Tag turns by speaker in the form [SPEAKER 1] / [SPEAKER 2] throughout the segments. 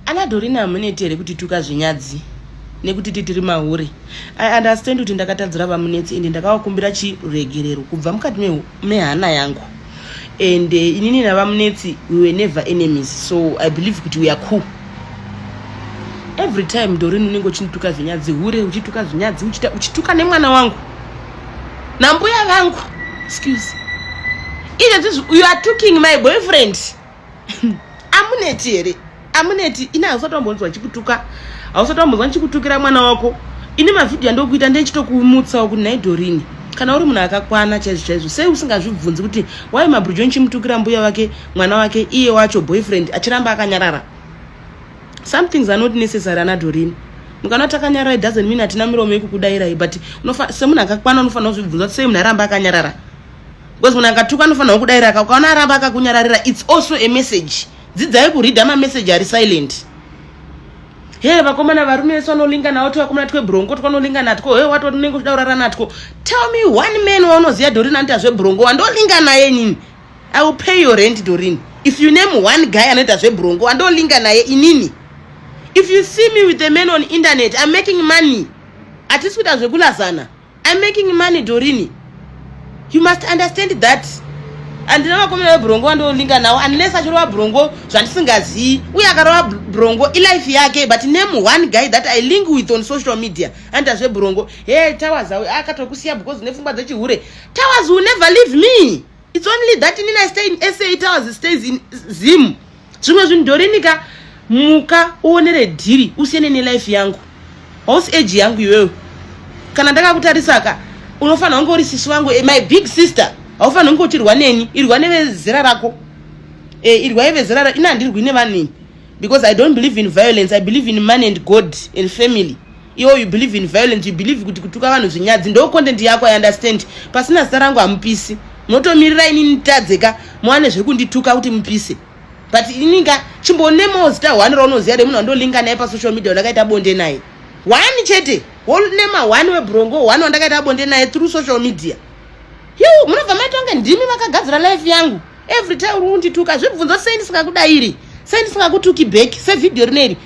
[SPEAKER 1] Ana Dorina hamuneti here kutituka zvinyadzi nekuti titiri mahure. I understand kuti ndakatadzira vamunetsi ende ndakawakumbira chiregerero kubva mukati mehana yangu. And eh, inini navamunetsi we were never enemies so I believe kuti we are cool. Every time Dorina unenge uchinituka zvinyadzi hure uchituka zvinyadzi uchituka nemwana wangu nambuya vangu excuse. Even you are talking my boyfriend. amuneti here amuneti ini hausati wambonzwa ndichikutuka hausati wambonzwa ndichikutukira mwana wako ini mavhidhiyo andokuita ndechitokumutsawo kuti nhai dorini kana uri munhu akakwana chaizvo chaizvo sei usingazvibvunzi kuti wai mabrujo ndichimutukira mbuya wake mwana wake iye wacho boyfriend achiramba akanyarara some things are not necessary ana dorini mukana kuti akanyarara it doesn't mean hatina miromo yekukudairai but semunhu akakwana unofanira kuzvibvunza kuti sei munhu aramba akanyarara because munhu akatuka anofanirwa kudaira ka ukaona aramba akakunyararira its also a message dzidzai kureada mameseji ari silent he vakomana varume vese vanolinga navo tivakomana twebrongo twanolinga natwo he wato unenge uchida kurara natwo tell me one man waunoziva dorin anoita zvebrongo wandolinga naye inini i will pay your rent dorin if you name one guy anoita zvebrongo wandolinga naye inini if you see me with a man on internet i'm making money hatisi kuita zvekulazana I'm making money Dorini. You must understand that. Andina vakomana vebrongo vandolinga nawo unless achirova brongo zvandisingazivi uye akarova brongo ilife yake but name one guy that I link with on social media anda zvebrongo hey towers akatokusiya because nepfungwa dzechihure towers will never leave me its only that inini i stay in sa eight hours stays in zim zvimwe zvinhu ndorinika muka uonere dhiri usiyane nelife yangu house age yangu iwewe kana ndakakutarisaka unofanira kunge uri sisi wangu eh, my big sister haufanira kunge uchirwa neni irwa nevezera rako eh, irwa yevezera rako ini handirwi nevanhu ini because i don't believe in violence i believe in money and god and family iwo you believe in violence you believe kuti kutuka vanhu zvinyadzi ndo content yako i understand pasina zita rangu hamupisi munotomirira ini nitadzeka muwane zvekundituka kuti mupise but ininga chimbonemawo zita one raunoziva remunhu wandolinga naye pasocial media wandakaita bonde naye one chete wolnema one webrongo one wandakaita bonde naye through social media yu munobva maitonge ndimi vakagadzira life yangu every time uri kundituka zvibvunzo sei ndisingakudairi sei ndisingakutuki back sevhidhiyo rino iri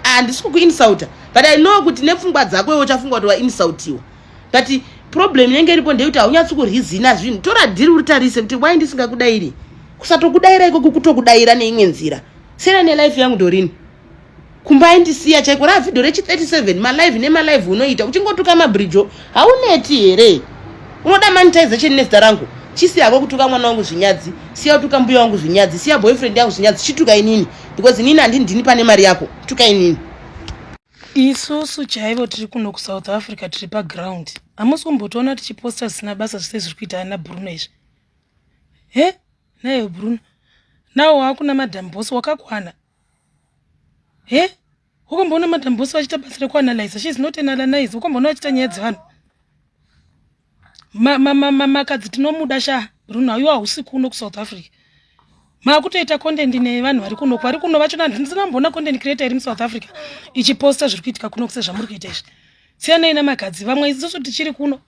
[SPEAKER 1] handisi kukuinsulta but i know kuti nepfungwa dzako iwe uchafungwa kuti wainsultiwa but problem inenge iripo ndeyekuti haunyatsi kurizina zvinhu tora dhiri uritarise kuti wai ndisingakudairi kusatokudaira ikoko kutokudaira neimwe nzira siyana nelife yangu ndorini kumba aindisiya chaiko raa vhidho rechi 37 malive nemalive unoita uchingotuka mabridjo hauneti here unoda monetization nezita rangu chisi hako kutuka mwana wangu zvinyadzi siya utuka mbuya wangu zvinyadzi siya boyfriend yangu zvinyadzi chituka inini because inini handindini pane mari yako tuka inini isusu chaivo tiri kuno kusouth africa tiri paground hamusi kumbotoona tichiposta zvisina basa zvise zviri kuita ana bruno izvi he naye bruno nawo waakuna madam bos wakakwana he ukamboona madam boss vachiita basa rekuanalyza she is not an analyze ukamboona vachiita nyaya dzevanhu makadzi tinomuda sha bruno haiwa hausi kuno kusouth africa maakutoita content nevanhu vari kuno vari kuno vacho ndisina mboona content creator iri musouth africa ichiposta zviri kuitika kuno kuse zvamuri kuita izvi siyanai namakadzi vamwe isusu tichiri kuno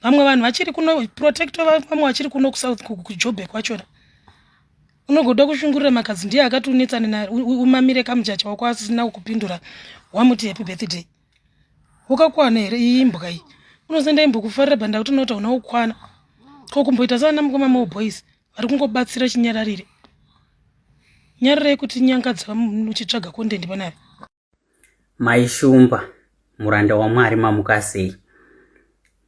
[SPEAKER 1] vamwe vanhu vachiri kuno protecto vamwe vachiri kuno kusouth kujobek wachona unogoda kushungurira makadzi ndiye akati unetsane naye umamire kamujacha wako asisina kukupindura wamuti happy birthday ukakwana here iyi imbwa iyi unosenda imbwa kufarira banda kuti unoti hauna kukwana ko kumboita saana mukoma mao boys vari kungobatsira chinyararire nyararai kuti nyangadza muchitsvaga kondendi panave Mai Shumba,
[SPEAKER 2] muranda waMwari mamuka sei?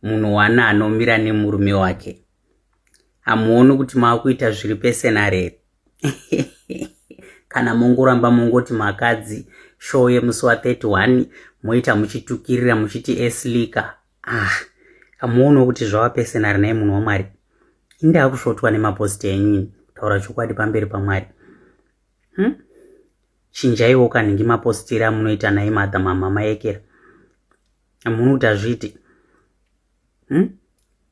[SPEAKER 2] Munhu wani anomira nemurume wake? Hamuoni kuti makuita zviri pese narere? Kana mongoramba mongoti makadzi show yemusi wa 31 moita muchitukirira muchiti eslika. Ah, hamuoni kuti zvava pese nari naye munhu waMwari? Indaa kusvotwa nemaposti enyu taura chokwadi pamberi paMwari. Hmm? chinjaiwo kanhingi maposteri amunoita naye madha mamama yekera munhu kuti azviiti hmm?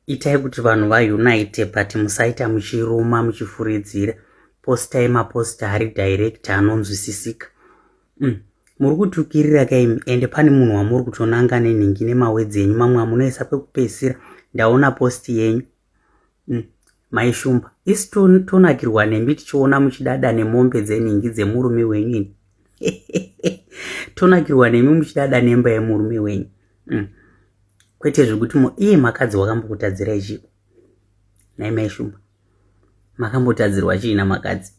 [SPEAKER 2] itai kuti vanhu vaunite but musaita muchiruma muchifuridzira postai maposta ari direct anonzwisisika hmm. muri kutukirira kaimi ende pane munhu wamuri kutonanga nenhingi nemawedzi enyu mamwe amunoisa kwekupedzisira ndaona posti yenyu mm. mai shumba isi tonakirwa nemi tichiona muchidada nemombe dzenhingi dzemurume wenyu ini tonakirwa nemi muchidada nemba yemurume wenyu mm. kwete zvekuti mo iye makadzi wakambokutadzirai chiko nai mai shumba makambotadzirwa chiina makadzi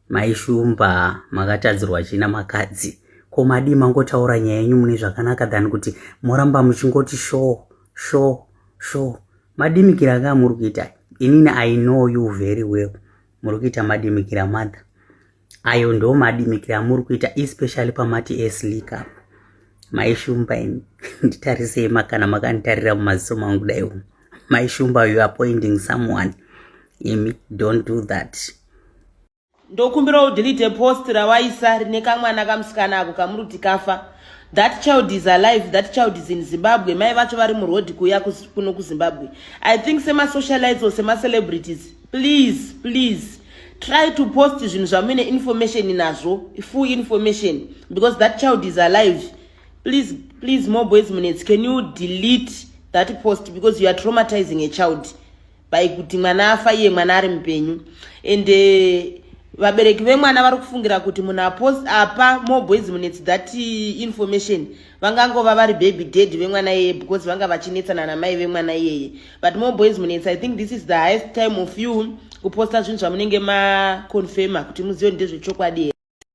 [SPEAKER 2] maishumba makatadzirwa china makadzi ko madii mangotaura nyaya yenyu mune zvakanaka than kuti moramba muchingoti sho sho sho madimikira kaa muri kuita inini i know you very well muri kuita madimikira mother ayo ndo madimikira amuri kuita especially pamati eslika maishumba ini nditarisei makana makanditarira mumaziso mangu daiwo mai shumba you appointing someone imi don't do that
[SPEAKER 1] ndokumbira udelete post rawaisa rine kamwana kamusikana ako kamuruti kafa that child is alive that child is in zimbabwe mai vacho vari muroad kuya kuno kuzimbabwe i think semasocialites or semacelebrities please please try to post zvinhu zvamuine information nazvo full information because that child is alive please please more boys minutes can you delete that post because you are traumatizing a child by kuti mwana afa iye mwana ari mupenyu and uh, vabereki vemwana vari kufungira kuti munhu apost apa more boys minutes that eh, information vangangova vari baby dad vemwana iyeye because vanga vachinetsana namai vemwana iyeye but more boys minutes i think this is the highest time of you kuposta zvinhu zvamunenge maconfirma kuti muzive ndezvechokwadi here